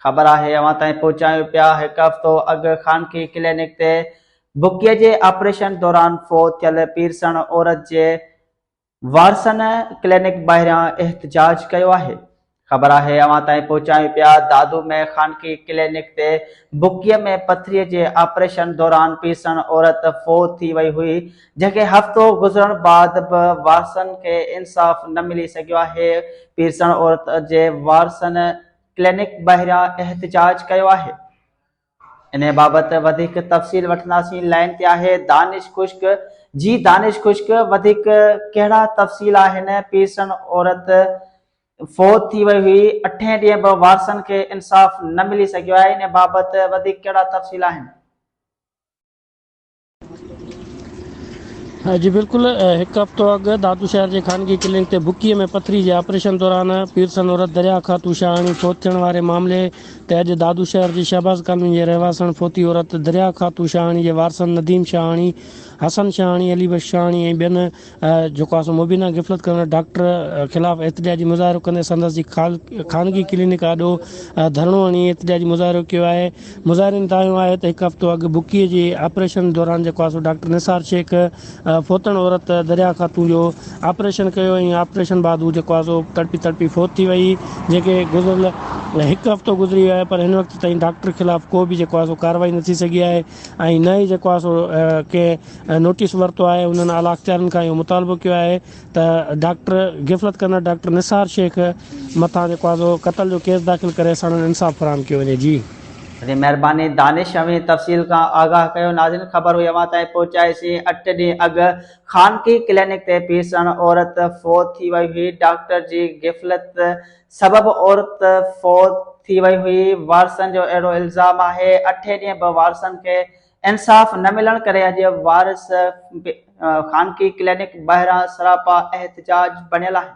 خبر آهي اوهان تائين پهچايون پيا هڪ هفتو اڳ خانگي ڪلينڪ تي بڪيء جي آپريشن دوران فوت ٿيل پيرسڻ عورت جي وارثن ڪلينڪ ٻاهريان احتجاج ڪيو آهي خبر آهي اوهان تائين پهچايون پيا دادو ۾ خانگي ڪلينڪ تي بڪيء ۾ پٿريء جي آپريشن دوران پيرسڻ عورت فوت ٿي وئي هئي جنهن کي هفتو گذرڻ بعد به وارثن کي انصاف نه ملي سگهيو آهي پيرسڻ عورت جي وارثن ڪلينڪ ٻاهران احتجاج ڪيو آهي. انهي بابت وڌيڪ تفصيل وٺنداسين لائين تي آهي دانش خشڪ جي دانش خشڪ وڌيڪ ڪهڙا تفصيل آهن پيرسن عورت فوت ٿي وئي هئي اٺين ڏينهن به وارثن کي انصاف نه ملي سگهيو آهي انهي بابت وڌيڪ ڪهڙا تفصيل آهن. جي بلڪل هڪ هفتو اڳ دادو شهر جي خانگي ڪلنڪ تي بڪيء ۾ پٿري جي آپريشن دوران پيرسن عورت دريا خاتون شاهاڻي فوت ٿيڻ واري معاملي تي اڄ دادو شهر جي شهباز ڪالوني جي رهواسڻ فوتي عورت دريا خاتون شاهاڻي جي وارثن نديم شاهاڻي، حسن شاهاڻي، علي بخش شاهاڻي ۽ ٻين جيڪو آء سو مبينا غفلت ڪندڙ ڊاڪٽر خلاف احتجاجي مظاهرو ڪندي سندس جي خانگي ڪلينڪ آڏو ڌرڻو هڻي احتجاجي مظاهرو ڪيو آهي مظاهرين دانهيو آهي ته هڪ هفتو اڳ بکيي جي آپريشن دوران جيڪو آء سو ڊاڪٽر نثار شيخ فوتڻ عورت دريا خاتون جو آپريشن ڪيو ۽ آپريشن بعد هو جيڪو آء سو تڙپي تڙپي فوت ٿي وئي جنهن کي گذريل هڪ هفتو گذري ويو آهي پر هن وقت تائين ڊاڪٽر خلاف ڪو به جيڪو آء سو ڪارروائي نه ٿي سگهي آهي ۽ نه ئي جيڪو آهي سو ڪنهن نوٽيس ورتو آهي انهن اعليٰ اختيارين کان اهو مطالبو ڪيو آهي ته ڊاڪٽر غفلت ڪندڙ ڊاڪٽر نثار شيخ مٿان جيڪو آهي سو قتل جو ڪيس داخل ڪري ساڻن انصاف فراهم ڪيو وڃي جي. جي مهرباني دانش اوهين تفصيل کان آگاهه ڪيو ناظرين خبر هئي اوهان تائين پهچائي سين اٺ ڏينهن اڳ خانگي ڪلينڪ تي پيرسڻ عورت فوت ٿي وئي هئي ڊاڪٽر جي غفلت سبب عورت فوت ٿي وئي هئي، وارثن جو اهڙو الزام آهي، اٺين ڏينهن به وارثن کي انصاف نه ملڻ ڪري اڄ وارث خانگي ڪلينڪ ٻاهران سراپا احتجاج بڻيل آهن.